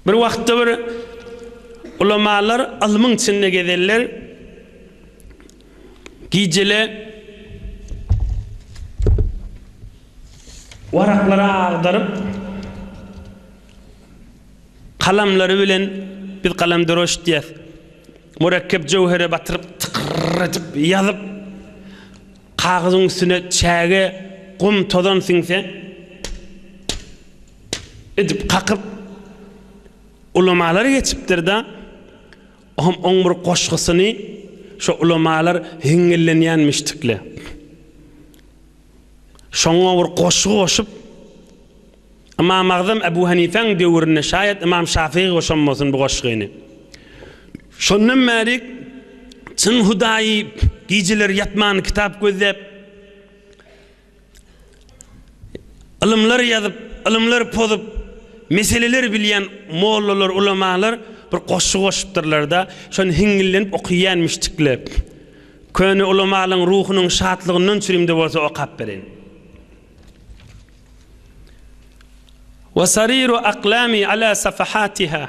Bir wagtda bir ulamalar ylmyň içinde gezerler. Gijele waraklary agdaryp, kalamlary bilen biz kalemdroş diýýäs. Mürekkep jöwhere batyryp, tykyr edip ýazyp, kagyzyň üstüne çäge, gum, tozan siňse, edip kakyp, ulamalar geçipdir-de, o hem oň bir goşgusyny şo ulamalar heňňillenýänmişdikle, şoňa bir goşgy goşup, Ymamagzam Ebu Hanifäň döwründe, şaýat Ymam Şafygy goşanbolsun bu goşgyny. Şondan bäri çyn hudaýy gijeleri ýatman kitap gözläp, Ylymlar ýazyp, ylymlar pozup, meseleler bilýän mollalar, ulamalar bir goşgy goşupdyrlar-da, şony hiňňillenip okyýänmişdikle. Köne ulamalyň ruhunyň şatlygyndan çürimde bolsa okap bereýin. Wa sariru aklami ala safahatiha.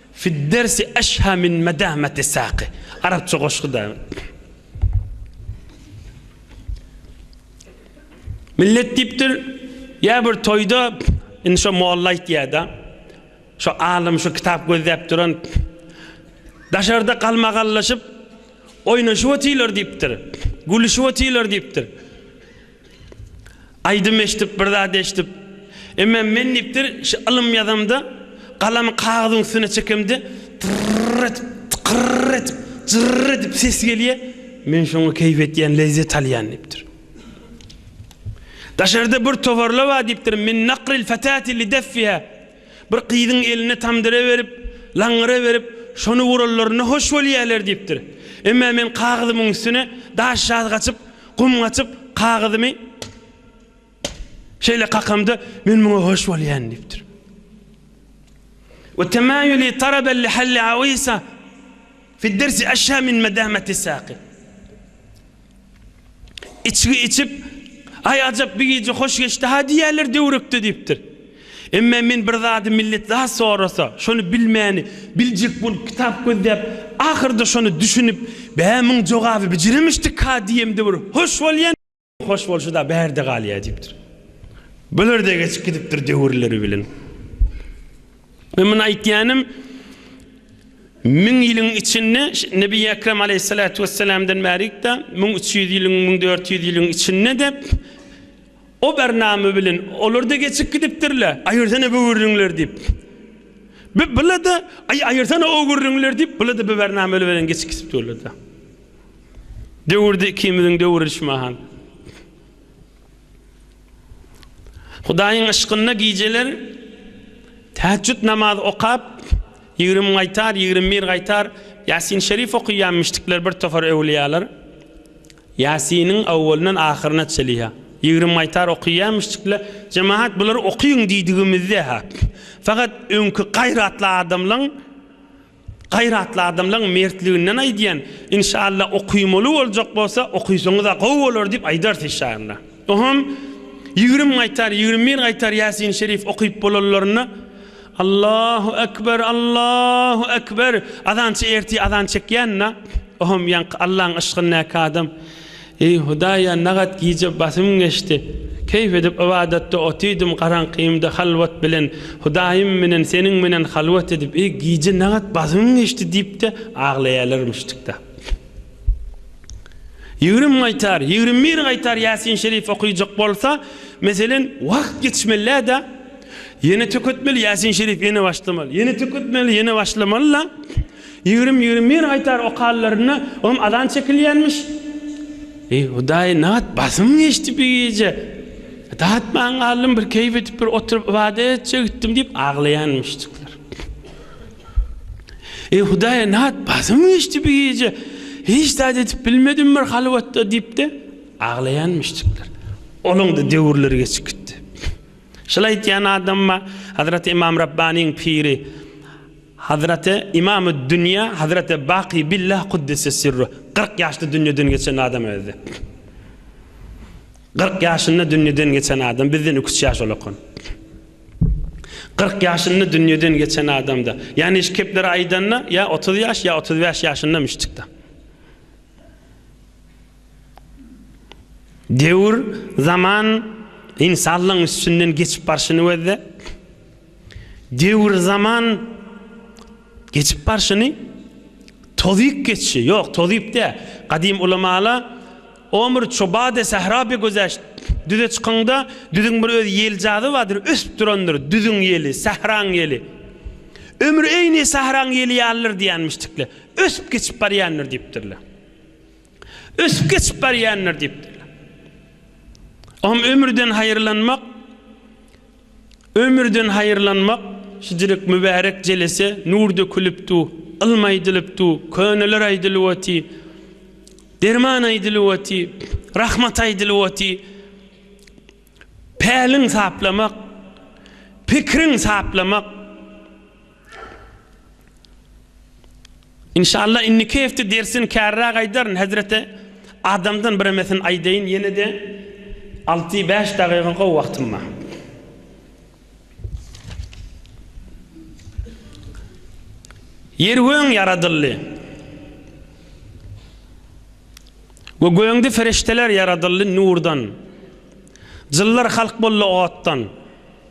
Fid-dersi eşha min medamati saqi. Arapça goşgy da. Millet diýipdir, ýa bir toýda indi şo molla aýtýar-da, şo alym şo kitap gözläp duran daşarda galmagallaşyp oýnaşyp otyrlar diýipdir, gülüşip otyrlar diýipdir. Aýdym eşdip, bir zat eşdip. Emma men diýipdir, şu ylym ýazamda, galamy kagyzyň üstüne çekemde, tyrr edip, tykyrr edip, jyrr edip ses gelýär. Men şoňa keýp etýän, lezzet alýan diýipdir. Daşarda bir towarla bar diýipdir, min nakril fatati li deffiha. Bir gyzyň eline tamdyra berip, laňňyra berip, şony uranlarynda hoş bolýarlar diýipdir. Emma men kagyzymyň üstüne daş ýazgaçyp, gum gaçyp, kagyzymy şeýle kakamda, men muňa hoş bolýan diýipdir. We temayuli taraben li halli awisa fid dersi aşa min madamati saqi. Içgi içip, Aý, ajap, bi gije hoş geçdi-ha diýerler döwrekde diýipdir. Emme men bir zady millet zat sorasa, şony bilmäni, biljek bolup kitap gözläp, ahyrda şony düşünip, Bä, muň jogaby bijiremişdik-ha diýem döwrek hoş bolýan, hoş bolşy-da bärde galýa diýipdir. Bular-da geçip gidipdir döwürleri bilen. Men muny aýtýanym, müň ýylyň içinde, Nebi Ekrem aleýhissalatu wessalamdan bärik-de, müň üç ýüz ýylyň, müň dört ýüz ýylyň içinde-de o barnama bilen olar-da geçip gidipdirler, aýyrsana bu gürrüňleri diýip. Bu bula-da, aý, aýyrsana o gürrüňleri diýip, bula-da bu barnama bilen geçip gidipdirler-de. Döwürde ikimiziň döwüri şu mahal. Hudaýyň yşkynda gijeler täheçjüt namazy okap, ýigrimi gaýtar, ýigrimi bir gaýtar Ýasin Şerif okyýanmyşdyklar bir topar öwlüýalar. Ýasiniň awwalyndan ahyryna çeli-hä, ýigrimi gaýtar okyýanmyşdyklar. Jemagat bulary okyň diýdigimizde-hä, fakat öňki gaýratly adamlaň. Gaýratly adamlaň mertliginden aýdýan inşalla okymaly boljak bolsa okysaňyza gowy bolar diýip aýdars inşalla. Ohm ýigrim gaýtar ýigrim bir gaýtar ýasin şerif okyp bolanlarynda Allahu ekber Allahu ekber azançy ertir azan çekýända ohm ýaňky Allaň yşkyndaky adam Eý, Hudaýa nagat gije basym geçdi. Keýp edip ybadatda otydym, garaňkymda halwat bilen, Hudaýym menen Seniň menen halwat edip, eý, gije nagat basym geçdi diýip-de aglaýalarmyşdyk-da. Ýigrimi gaýtar, ýigrimi bir gaýtar Ýasin Şerif okyjak bolsa, meselen, wagt geçmeli-dä, ýene töketmeli, Ýasin Şerif ýene başlamaly, ýene töketmeli, ýene başlamaly-la. Ýigrimi, ýigrimi bir aýtar okallarynda olam azan çekilýänmiş. Eý, Hudaý, nabat basym geçdi bi gije. Datman galdym, bir keýp edip, bir oturyp ybadat etjek etdim diýip aglaýanmyşdyklar. Eý, Hudaý, nabat basym geçdi bi gije. Hiç zat edip bilmedim bir halwatda diýip-de aglaýanmyşdyklar. Olaň-da döwürleri geçip gitdi. Şol aýtýan adamma Hazreti Ymam Rabbanyň piri Hazraty Imamü'd Dünya Hazraty Baky Billah Kuddise Sirruh kyrk ýaşda dünýeden geçen adam özdi. Kyrk ýaşynda dünýeden geçen adam bizden iki-üç ýaş ulakan. Kyrk ýaşynda dünýeden geçen adamda, ýagny şu kepleri aýdanda ýa otuz ýaş, ýa otuz bäş ýaşyndammyşdykda. Döwür, zaman, ynsanlygyň üstünden geçip barşyny özde. Döwür-zaman geçip barşyny tozyp geçşi, ýok, tozyp däl, gadym ulamalar Omr çobade sähra be gözeşt, Düze çykyňda, düzüň bir öz ýeljazy bardyr, ösüp durandyr, düzüň ýeli, sähraň ýeli. Ömür eýni sähraň ýeli ýalydyr diýenmişdikler. Ösüp geçip barýandyr diýipdirler. Ösüp geçip barýandyr diýipdirler. Oňa ömürden haýyrlanmak, Ömürden haýyrlanmak şijirik mübärek jelese nur dökülip du, ylm aýdylyp du, köneler aýdylyp oty, derman aýdylyp oty, rahmat aýdylyp oty, päliň saplamak, pikiriň saplamak. Inşalla inniki hepde dersini kärräk aýdaryn hezreti adamdan biremesini aýdaýyn ýenede alty bäş dagyga gowy wagtym bar. Ýer göň ýaradyldy. We göňde ferişdeler ýaradyldy nurdan. Jynlar halk boldy otdan.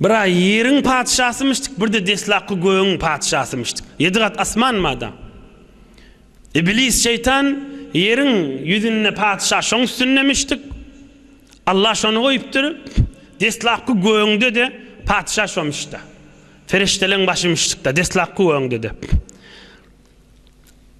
Bir-ä ýeriň patyşasymyşdyk, bir-de deslapky gögüň patyşasymyşdyk. Ýedi gat asman bada. Iblis şeýtan ýeriň ýüzünde patyşa şoň üstündemişdik. Alla şony goýupdyr. Deslapky gögüňde-de patyşa şomyş-da. Perişdeleň başymyşdyk-da, deslapky gögüňde-de.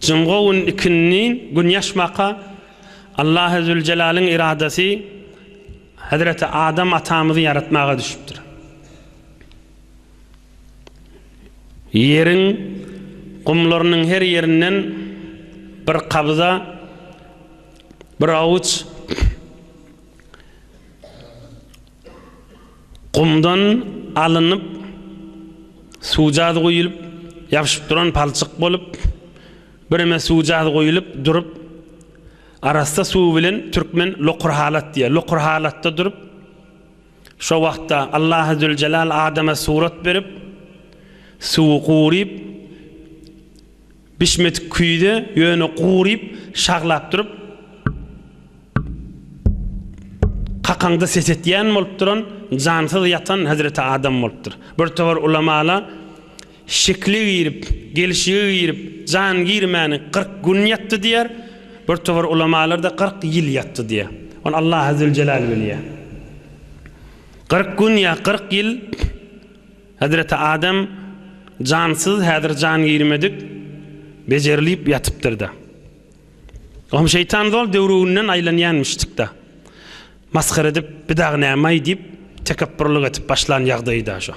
Jyňgo gün ikindin gün ýaşmaka Allahy Züljelalyn yradasy Hezreti Adam atamyzy ýaratmaga düşüpdir. Ýeriň gumlarynyň her ýerinden bir kabza, bir awuç, Gumdan alynyp, suwjaz guýulyp, ýapyşyp duran palçyk bolup, bireme suwjaz guýulyp durup, arassa suw bilen türkmen lokur halat diýýär. Lokur halatda durup, şo wagtda Allahy Züljelal adama surat berip, suwy guryp, Bişmedik küýze ýöne guryp, şaglap durup, kakaňda ses etýän bolup duran, jansyz ýatan hezreti Adam bolupdyr. Bir towar ulamalar şekli girip, gelşigi girip, jan girmäni kyrk gün ýatdy diýýär, bir towar ulamalar-da kyrk ýyl ýatdy diýýär. Ony Allahazüljelal bilýär. Kyrk gün ýa kyrk ýyl Hezreti Adam jansyz, häzir jan girmedik, bejerilip ýatypdyr-da. Oňa şeýtan zol döwrüginden aýlanýanmyşdyk-da. Masgara edip, bi dagy näme-aý diýip, tekepburlyk edip başlan ýagdaýy-da şo.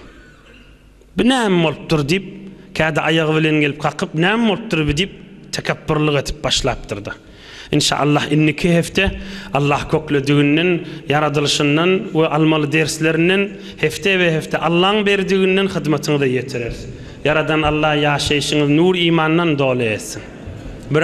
Bi näme bolupdyr diýip, kädi aýagy bilen gelip kakyp, näme bolupdyr bi diýip, tekepburlyk edip başlapdyr-da. Inşallah indiki hepde Allah köklediginden, ýaradylyşyndan we almaly derslerinden hepde be hepde Allaň berdiginden hyzmatyňyza ýetireris. Ýaradan Allah ýaşaýşyňyzy nur imandan doly etsin. Bir.